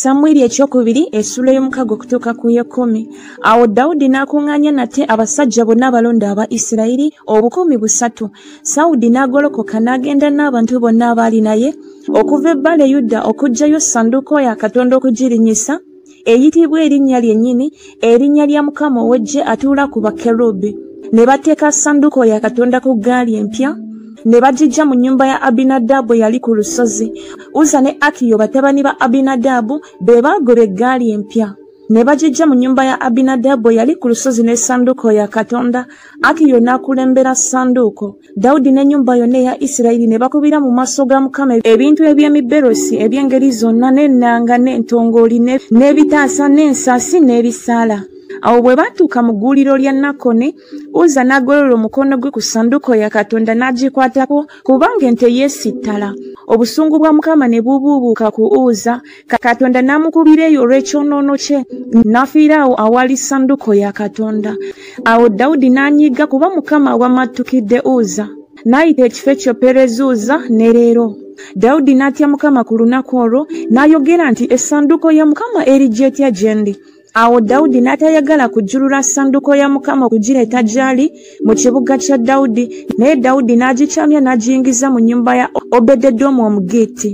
samwiri ekyokubiri esula y'omukago okutuuka ku yekumi awo dawudi n'akuŋŋaanya nate abasajja bonna abalonda aba isirayiri obukumi busatu sawudi n'agolokoka n'agenda n'abantu bonna abaali naye okuva ebbale yuda okugjayo sanduuko ya katonda okugirinnyisa eyitibwa erinnya lyennyini erinnya lya mukama ow'eggye atuula ku bakerubi ne bateeka sanduuko ya katonda ku ggaali empya ne bagijja mu nnyumba ya abinadaabu eyali ku lusozi uza ne akiyo batabani ba abinadaabu be baagoba eggaali empya ne bagijja mu nnyumba ya abinadaabu eyali ku lusozi n'essanduuko ya katonda akiyo n'akulembera ssanduuko Dawudi n'ennyumba yonna eya Isirayiri ne bakubira mu maaso ga Mukama ebintu eby'emiberosi eby'engeri zonna n'ennanga n'entongooli n'ebitaasa n'ensasi n'ebisaala. Awo bwe baatuuka mu gguuliro lya Nakone, Uza n'agolola omukono gwe ku ssanduuko ya Katonda n'agikwatako kubanga ente yeesittala. Obusungu bwa Mukama ne bubuubuuka ku Uza katonda n'amukubira eyo olw'ekyonoono kye n'afiira awo awali sanduko ya katonda awo dawudi n'anyiga kuba mukama wamattukidde uza n'ayita ekifo ekyo perezuuza ne leero dawudi n'atya mukama ku lunaku olwo n'ayogera nti essanduko ya mukama eri gyetya gye ndi Awo Dawudi n'atayagala kujjulula ssanduko ya Mukama okugireeta gy'ali mu kibuga kya Dawudi, naye Dawudi n'agikyamya n'agiyingiza mu nnyumba ya Obededomu Omugiiti.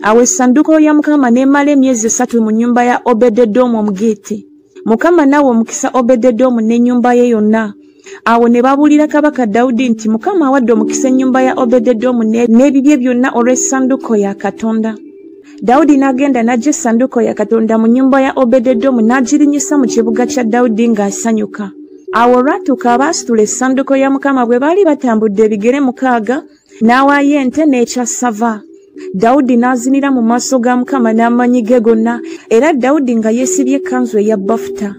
Awo essanduko ya Mukama n'emala emyezi esatu mu nnyumba ya Obededomu Omugiiti. Mukama n'awa omukisa Obededomu n'ennyumba ye yonna. awo ne babuulira kabaka dawudi nti mukama awadde omukisa ennyumba ya obededomu n'ebibye byonna olw'essanduuko ya katonda dawudi n'agenda n'ajja essanduuko ya katonda mu nnyumba ya obededomu n'agirinyisa mu kibuga kya dawudi ng'asanyuka awo olwatuuka abaasitula essanduuko ya mukama bwe baali batambudde ebigere mukaaga n'awaayo ente n'ekyassava dawudi n'azinira mu maaso ga mukama n'amaanyi ge gonna era dawudi nga yeesibye ekkanzu eya bafuta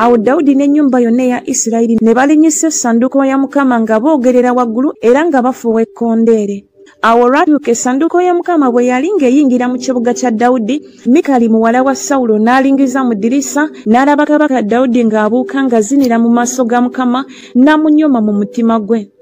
awo dawudi n'ennyumba yonna eya isirayiri ne balinyisa essanduuko ya mukama nga boogerera waggulu era nga bafuuwa ekkondeere awo olwatuuka essanduuko ya mukama bwe yali ng'eyingira mu kibuga kya dawudi mikali muwala wa sawulo n'alingiza mu ddirisa n'alaba kabaka dawudi ng'abuuka ng'azinira mu maaso ga mukama n'amunyoma mu mutima gwe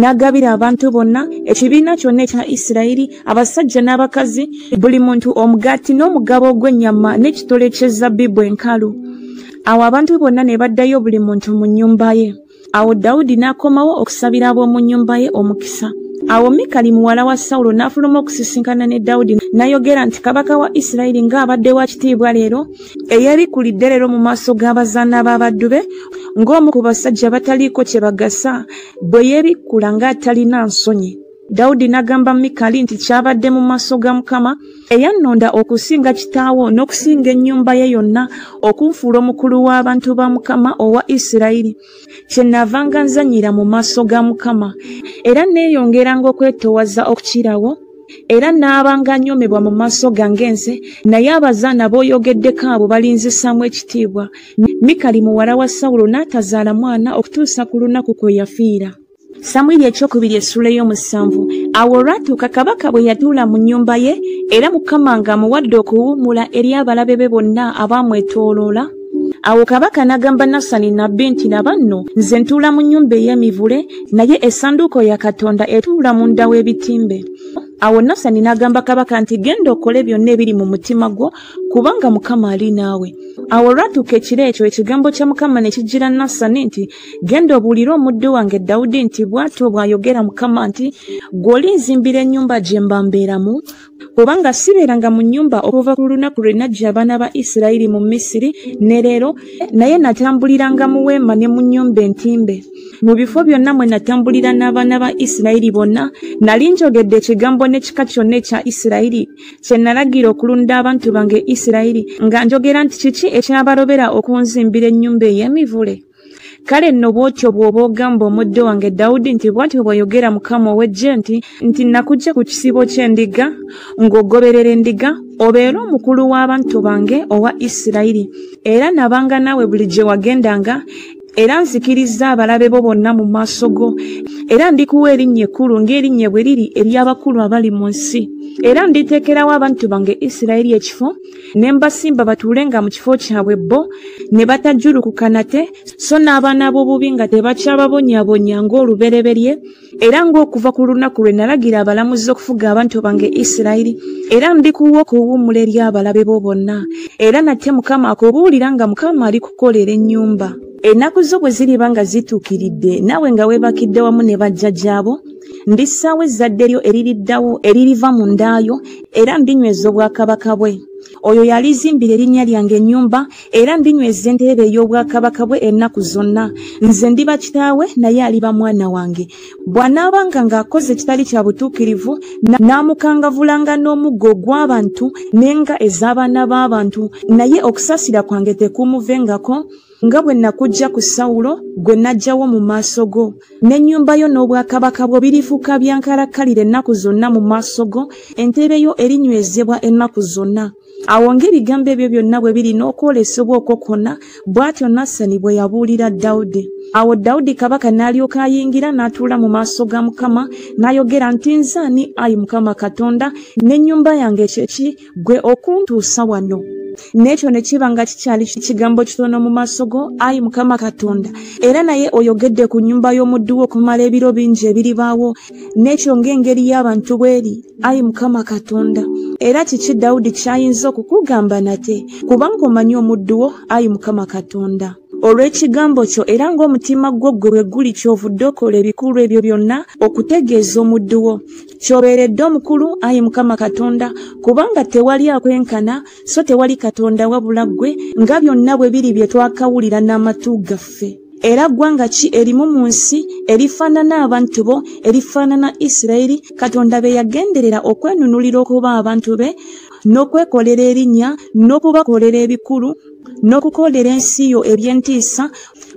n'agabira abantu bonna ekibiina kyonna ekya isirayiri abasajja n'abakazi buli muntu omugaati n'omugabo ogw'ennyama n'ekitole ky'ezzabbibu enkalu awo abantu bonna ne baddayo buli muntu mu nnyumba ye awo dawudi n'akomawo okusabira ab'omu nnyumba ye omukisa awo mikali muwala wa sawulo n'afuluma okusisinkana ne dawudi n'ayogera nti kabaka wa isirayiri ng'abadde wa kitiibwa leero eyeebikulidde leero mu maaso g'abazaana b'abaddu be ng'omu ku basajja bataliiko kye bagasa bwe yeebikkula ng'atalina nsonyi dawudi n'agamba mikali nti kyabadde mu maaso ga mukama eyannonda okusinga kitaawo n'okusinga ennyumba ye yonna okunfuula omukulu w'abantu ba mukama owa isirayiri kyenavanga nzanyira mu maaso ga mukama era neeyongeranga okwetoowaza okukirawo era n'abanga anyomebwa mu maaso gange nze naye abazaana b'oyogeddeko abo balinzisaamu ekitiibwa mikali muwala wa sawulo n'atazaala mwana okutuusa ku lunaku kwe yafiira samwiri ekyokubiri essula ey'omusanvu awo olwatuuka kabaka bwe yatuula mu nnyumba ye era mukama ng'amuwadde okuwummula eri abalabe be bonna abaamwetooloola awo kabaka n'agamba nasani nabbi nti laba nno nze ntuula mu nnyumba ey'emivule naye essanduuko ya katonda etuula mu nda w'ebitimbe awo nasani n'agamba kabaka nti genda okole byonna ebiri mu mutima gwo kubanga mukama ali naawe awo olwatuuka ekiro ekyo ekigambo kya mukama ne kijjira nasani nti Genda obuulire omuddu wange Dawudi nti bw'atyo bw'ayogera Mukama nti ggwe olinzimbira ennyumba gye mba mbeeramu kubanga sibeeranga mu nnyumba okuva ku lunaku lwe naggya abaana ba Isirayiri mu Misiri ne leero naye natambuliranga mu weema ne mu nnyumba entimbe mu bifo byonna mwe natambulira n'abaana ba Isirayiri bonna nali njogedde ekigambo n'ekika kyonna ekya Isirayiri kye nalagira okulunda abantu bange isirayiri nga njogera nti kiki ekinabalobera okunzimbira ennyumba ey'emivule kale nno bw'otyo bw'oba ogamba omuddo wange dawudi nti bw'atyo bw'ayogera mukama ow'eggye nti nti nakujja ku kisibo ky'endiga ng'ogoberera endiga obeere omukulu w'abantu bange owa isirayiri era nabanga naawe buli gye wagendanga era nzikirizza abalabe bo bonna mu maaso go era ndikuwa erinnya ekkulu ng'erinnya bwe liri ery'abakulu abali mu nsi era nditeekerawo abantu bange isirayiri ekifo ne mbasimba batuule nga mu kifo kyabwe bo ne batajjulukuka nate so n'abaana b'obubi nga tebakyababonyabonya ng'olubereberye era ng'okuva ku lunaku lwe nalagira abalamuzi okufuga abantu bange isirayiri era ndikuwa okuwummula eri abalabe bo bonna era nate mukama akubuulira nga mukama ali kukolera ennyumba ennaku zo bwe ziriba nga zituukiridde naawe nga weebakidde wamu ne bajja gyabo ndissaawo ezzadde lyo eririddawo eririva mu ndaayo era ndinyweza obwakabaka bwe oyo yalizimbira erinnya lyange ennyumba era ndinyweza entereera ey'obwakabaka bwe ennaku zonna nze ndiba kitaawe naye aliba mwana wange bw'anaabanga ng'akoze ekitali kya butuukirivu n'amukangavulanga n'omuggo ogw'abantu n'enga ez'abaana b'abantu naye okusaasira kwange tekuumuvengako nga bwe nakujja ku sawulo gwe najjawo mu maaso go n'ennyumba yo n'obwakabaka bwo birifuuka byankalakkalira ennaku zonna mu maaso go entebe yo erinywezebwa ennaku zonna awo ng'ebigambo ebyo byonna bwe birina okwolesebwa okwo kwonna bw'atyo nasani bwe yabuulira dawudi awo dawudi kabaka n'alyoka ayingira n'atuula mu maaso ga mukama n'ayogera nti nze ani ayi mukama katonda n'ennyumba yange kyeki gwe okuntuusa wano n'ekyo ne kiba nga kikyali kigambo kitono mu maaso go ayi mukama katonda era naye oyogedde ku nnyumba y'omuddu wo okumala ebiro bingi ebiribaawo n'ekyo ng'engeri y'abantu bw'eri ayi mukama katonda era kiki dawudi ky'ayinza okukugamba nate kubanga omanyi omuddu wo ayi mukama katonda olw'ekigambo kyo era ng'omutima gwo ggwe bwe guli kyovudde okola ebikulu ebyo byonna okutegeeza omuddu wo kyobeeredde omukulu ayi mukama katonda kubanga tewali akwenkana so tewali katonda wabula ggwe nga byonna bwe biri bye twakawulira n'amatu gaffe era ggwanga ki erimu mu nsi erifaanana abantu bo erifaanana isirayiri katonda be yagenderera okwenunulira okuba abantu be n'okwekolera erinnya n'okubakolera ebikulu n'okukolera ensi yo eby'entiisa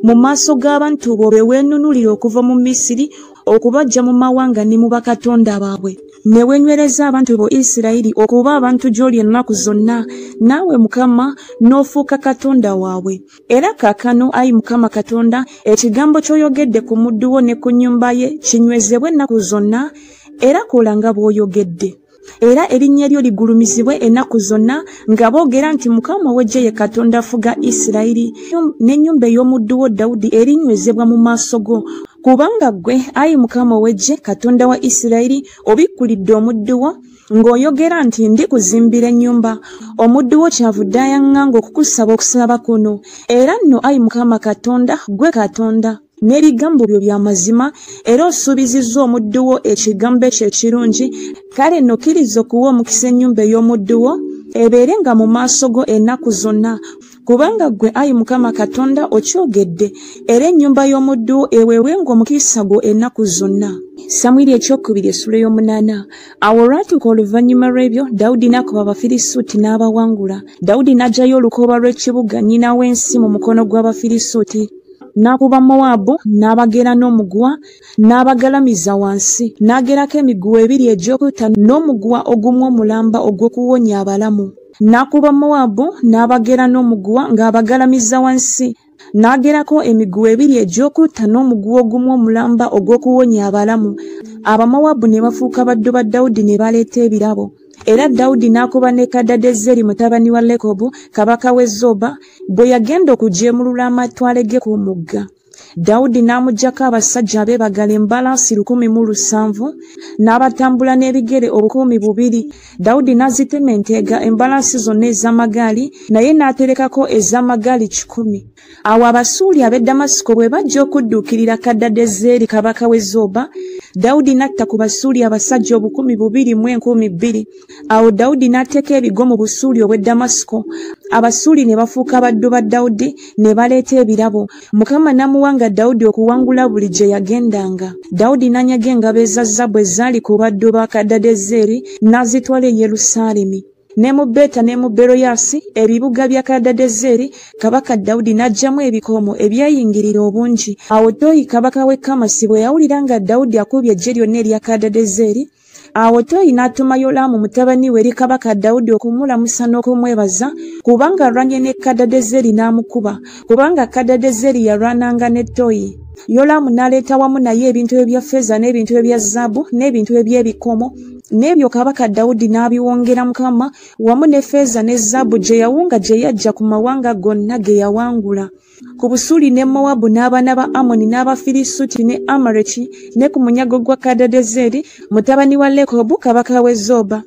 mu maaso g'abantu bo be weenunulira okuva mu misiri okubajja mu mawanga ne mu bakatonda baabwe ne wenywereza abantu bo isirayiri okuba abantu gy'oli ennaku zonna naawe mukama n'ofuuka katonda waabwe era kaakano ayi mukama katonda ekigambo ky'oyogedde ku muddu wo ne ku nnyumba ye kinywezebwe ennaku zonna era kola nga bw'oyogedde era erinnya lyo ligulumizibwe ennaku zonna nga boogera nti mukama ow'eggye ye katonda afuga isirayiri n'ennyumba ey'omuddu wo dawudi erinywezebwa mu maaso go kubanga ggwe ayi mukama ow'eggye katonda wa isirayiri obikkulidde omuddu wo ng'oyogera nti ndi kuzimbira ennyumba omuddu wo kyavudde ayaŋŋanga okukusaba okusaba kuno era nno ayi mukama katonda ggwe katonda n'ebigambo byo bya mazima era osuubizizza omuddu wo ekigambo ekyo ekirungi kale nno kkiriza okuwa omukisa ennyumba ey'omuddu wo ebeere nga mu maaso go ennaku zonna kubanga ggwe ayi mukama katonda okyogedde era ennyumba y'omuddu wo eweewenga omukisa gwo ennaku zonna samwiri ekyokubiri essula ey'omunaana awo olwatuuka oluvannyuma lw'ebyo dawudi n'akuba abafirisuuti n'abawangula dawudi n'aggyayo olukooba lw'ekibuga nnyina w'ensi mu mukono gw'abafirisuuti n'akuba mowaabu n'abagera n'omuguwa n'abagalamiza wansi n'agerako emiguwa ebiri egy'okutta n'omuguwa ogumu omulamba ogw'okuwonya abalamu n'akuba mowaabu n'abagera n'omuguwa ng'abagalamiza wansi n'agerako emiguwa ebiri egy'okutta n'omuguwa ogumu omulamba ogw'okuwonya abalamu abamowaabu ne bafuuka baddu ba dawudi ne baleeta ebirabo era dawudi n'akuba ne kadadezeri mutabani wa lekobu kabaka w'e zoba bwe yagenda okujeemulula amatwale ge ku mugga dawudi n'amugyako abasajja abeebagala embalaasi lukumi mu lusanvu n'abatambula n'ebigere obukumi bubiri dawudi n'azitema enteega embalaasi zonna ez'amagaali naye n'aterekako ez'amagaali kikumi awo abasuuli ab'e damasiko bwe bajja okudduukirira kaddadezeeri kabaka w'e zoba dawudi n'atta ku basuuli abasajja obukumi bubiri mu enkumi bbiri awo dawudi n'ateeka ebigo mu busuuli obw'e damasiko abasuuli ne bafuuka abaddu ba dawudi ne baleeta ebirabo mukama n'amuwanga dawudi okuwangula buli gye yagendanga dawudi n'anyaga engabo eza zabu ezaali ku baddu ba kaddadezeeri n'azitwala e yerusaalemi ne mu beta ne mu beroyasi ebibuga bya kadadezeri kabaka dawudi n'aggyamu ebikoomo ebyayingirira obungi awo toyi kabaka w'e kamasi bwe yawulira nga dawudi akubye eggye lyonna erya kadadezeri awo toyi n'atuma yolaamu mutabani we eri kabaka dawudi okumulamusa n'okumwebaza kubanga alwanye ne kadadezeri n'amukuba kubanga kadadezeri yalwananga ne toyi yolaamu n'aleeta wamu naye ebintu ebya feeza n'ebintu ebya zaabu n'ebintu eby'ebikomo n'ebyo kabaka dawudi n'abiwongera mukama wamu ne feeza ne zaabu gye yawunga gye yajja ku mawanga gonna ge yawangula ku busuli ne mowabu n'abaana ba amoni n'abafirisuti ne amareki ne ku munyago gwa kadadezeri mutabani wa lekobu kabaka w'e zoba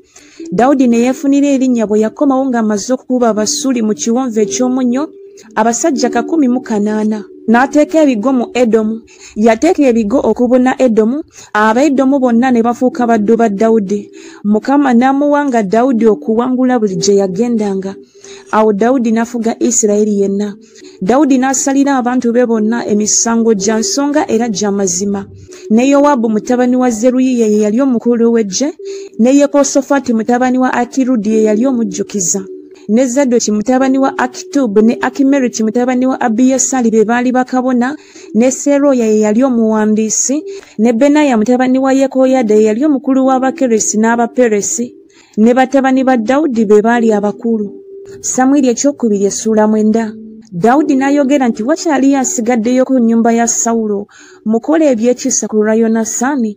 dawudi ne yeefunira erinnya bwe yakomawo ng'amaze okukuba abasuli mu kiwonvu eky'omunnyo abasajja kakumi mu kanaana n'ateeka ebigo mu edomu yateeka ebigo okubuna edomu abaedomu bonna ne bafuuka baddu ba dawudi mukama n'amuwanga dawudi okuwangula buli gye yagendanga awo dawudi n'afuga isirayiri yenna dawudi n'asalira abantu be bonna emisango gya nsonga era gya mazima ne yowaabu mutabani wa zeruyiya ye yali omukulu w'eggye ne yekosofati mutabani wa akirudi ye yali omujjukiza ne zadoki mutabani wa akitubu ne akimeriki mutabani wa abiyasali be baali bakabona ne Seroya ye yali omuwandiisi, ne Benaya mutabani wa Yekoyada ye yali omukulu w'Abakeresi n'Abaperesi, ne batabani ba Dawudi be baali abakulu. Samwiri ekyokubiri essuula mwenda. Dawudi n'ayogera nti wakyaliyo asigaddeyo ku nnyumba ya Sawulo, mukole ebyekisa ku lwa Yonasaani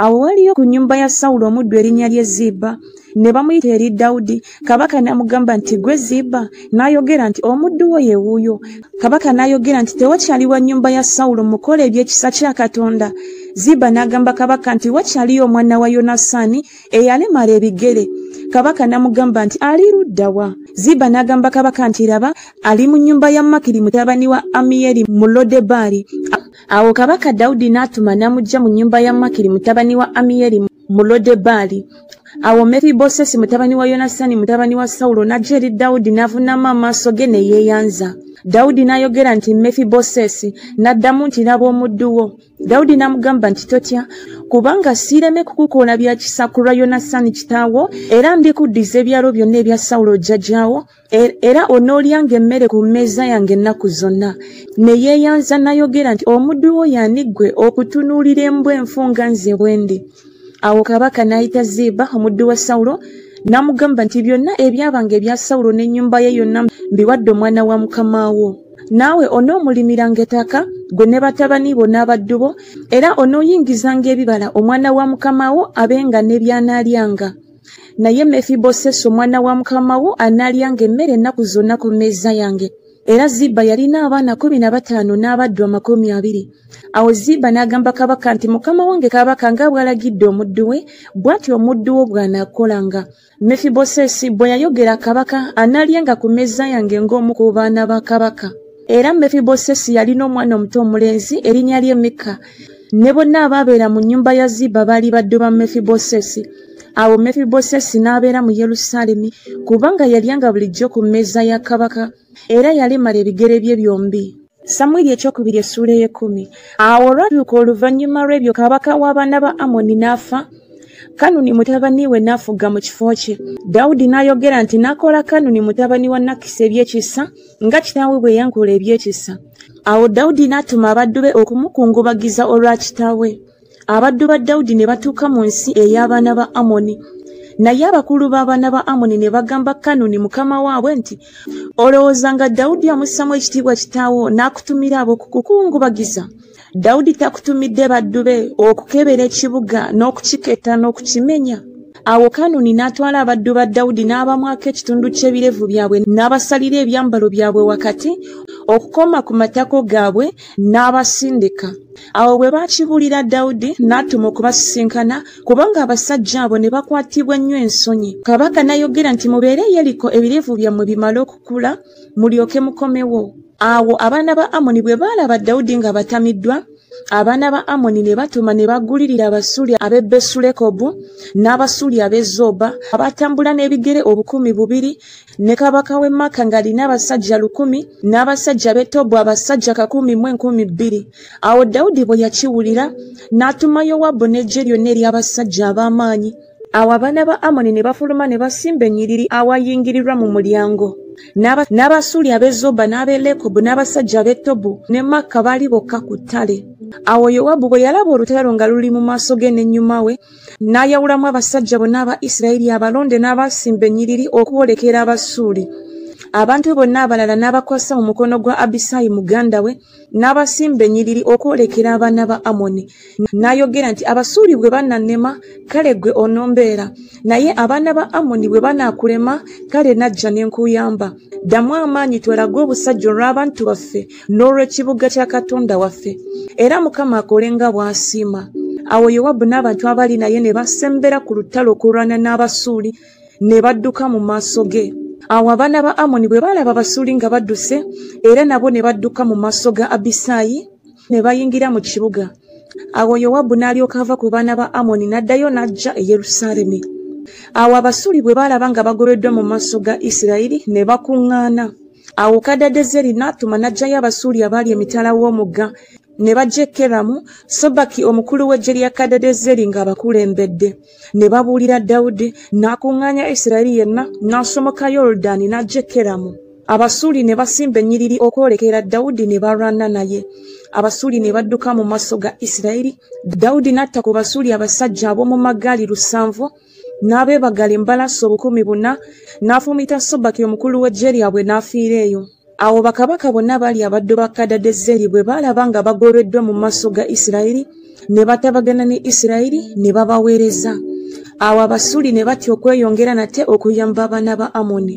awo waliyo ku nnyumba ya sawulo omuddu erinnya lye ziiba ne bamuyita eri dawudi kabaka n'amugamba nti gwe ziiba n'ayogera nti omuddu wo ye wuuyo kabaka n'ayogera nti tewakyali wa nnyumba ya sawulo mukola eby'ekisa kya katonda ziiba n'agamba kabaka nti wakyaliyo omwana wa yonasaani eyalemala ebigere kabaka n'amugamba nti ali ludda wa ziiba n'agamba kabaka nti laba ali mu nnyumba ya makiri mutabani wa amiyeri mu lodebaali Awo kabaka Dawudi n'atuma n'amuggya mu nnyumba ya Makiri mutabani wa Amiyeri mu Lodebaali. Awo Mefibosesi mutabani wa Yonasani mutabani wa Sawulo n'ajja eri Dawudi n'avunnama amaaso ge ne yeeyanza. Dawudi n'ayogera nti Mefibosesi, n'addamu nti laba omuddu wo. Dawudi n'amugamba nti totya, kubanga siireme kukukola bya kisa ku lwa Yonasani kitaawo, era ndikuddiza ebyalo byonna ebya Sawulo jjajjaawo, Er, era onoolyanga emmere ku mmeeza yange ennaku zonna ne yeeyanza nayogera nti omuddu wo yani ggwe okutunuulira embwa enfu nga nze bwendi awo kabaka n'ayita ziiba omuddu wa sawulo n'amugamba nti byonna ebyabanga ebya sawulo n'ennyumba ye yonna mbiwadde omwana wa mukama wo naawe onoomulimiranga ettaka gwe ne batabani bo n'abaddu bo era onooyingizanga ebibala omwana wa mukama wo abenga ne by'anaalyanga naye mefibosesi omwana wa mukama wo anaalyanga emmere ennaku zonna ku mmeeza yange era ziba yalina abaana kumi na bataano n'abaddu amakumi abiri awo ziba n'agamba kabaka nti mukama wange kabaka nga bw'alagidde omuddu we bw'atyo omuddu wo bw'anaakolanga mefibosesi bwe yayogera kabaka anaalyanga ku mmeeza yange ng'omu ku baana ba kabaka era mefibosesi yalina omwana omuto omulenzi erinnya lye mikka ne bonna abaabeera mu nnyumba ya ziba baali baddu ba mefibosesi awo mefibosesi n'abeera mu yerusaalemi kubanga yalyanga bulijjo ku mmeeza ya kabaka era yalemala ebigere bye byombi samwiri ekyokubiri essuula ey'ekkumi awo olwatuuka oluvannyuma lw'ebyo kabaka w'abaana ba amoni n'afa kanuni mutabani we n'afuga mu kifo kye dawudi n'ayogera nti n'akola kanuni mutabani wa nakisi ebyekisa nga kitaawe bwe yankola ebyekisa awo dawudi n'atuma abaddu be okumukungubagiza olwa kitaawe abaddu ba dawudi ne batuuka mu nsi ey'abaana ba amoni naye abakulu b'abaana ba amoni ne bagamba kanuni mukama waabwe nti olowooza nga dawudi amussamu ekitiibwa kitaawo n'akutumira ab'okukukungubagiza dawudi takutumidde baddu be okukebera ekibuga n'okukiketta n'okukimenya awo kanuni n'atwala abaddu ba dawudi n'abamwako ekitundu ky'ebirevu byabwe n'abasalira ebyambalo byabwe wakati okukoma ku matako gaabwe n'abasindika awo bwe baakibuulira dawudi n'atuma okubasisinkana kubanga abasajja abo ne bakwatibwa ennyo ensonyi kabaka n'ayogera nti mubeere yeriko ebirevu byammwe bimale okukula mulyoke mukomewo awo abaana ba amoni bwe baalaba dawudi nga batamiddwa abaana ba amoni ne batuma ne bagulirira abasuuli ab'e besulekobu n'abasuuli ab'e zoba abatambula n'ebigere obukumi bubiri ne kabaka w'e maka ng'alina abasajja lukumi n'abasajja b'e tobu abasajja kakumi mu enkumi bbiri awo dawudi bwe yakiwulira n'atuma yowabu n'eggye lyonna ery'abasajja ab'amaanyi awo abaana ba amoni ne bafuluma ne basimba ennyiriri awayingirirwa mu mulyango n'abasuuli ab'e zoba n'ab'e lekobu n'abasajja ab'e tobu ne makka baali bokka ku ttale awo yowabu bwe yalaba olutalo nga luli mu maaso ge n'ennyuma we n'ayawulamu abasajja bonna aba isirayiri abalonde n'abaasimba ennyiriri okwolekera abasuuli abantu bonna abalala n'abakwasa mu mukono gwa abisaayi muganda we n'abasimba ennyiriri okwolekera abaana ba amoni n'ayogera nti abasuuli bwe banannema kale ggwe onombeera naye abaana ba amoni bwe banaakulema kale najja ne nkuyamba ddamu amaanyi twelage obusajja olw'abantu baffe n'olw'ekibuga kya katonda waffe era mukama akole nga bw'asiima awo yowabu n'abantu abali naye ne basembera ku lutalo okulwana n'abasuuli ne badduka mu maaso ge awo abaana ba amoni bwe baalaba abasuuli nga badduse era nabo ne badduka mu maaso ga abisaayi ne bayingira mu kibuga awo yowabu n'alyoka ava ku baana ba amoni n'addayo n'ajja e yerusaalemi awo abasuuli bwe baalaba nga bagobeddwa mu maaso ga isirayiri ne bakuŋŋaana awo kadadezeri n'atuma n'aggyayo abasuuli abaali emitala w'omugga ne bajja e keramu sobaki omukulu w'eggye lya kadadezeri ng'abakulembedde ne babuulira dawudi n'akuŋŋaanya isirayiri yenna n'asomoka yoludaani n'ajja e keramu abasuuli ne basimba ennyiriri okwolekera dawudi ne balwana naye abasuuli ne badduka mu maaso ga isirayiri dawudi n'atta ku basuuli abasajja ab'omu magaali lusanvu n'abeebagala embalaasi obukumi buna n'afuumita sobaki omukulu w'eggye lyabwe n'afiira eyo awo bakabaka bonna baali abaddu ba kadadezeri bwe baalaba nga bagobeddwa mu maaso ga isirayiri ne batabagana ne isirayiri ne babaweereza awo abasuuli ne batya okweyongera nate okuyamba abaana ba amoni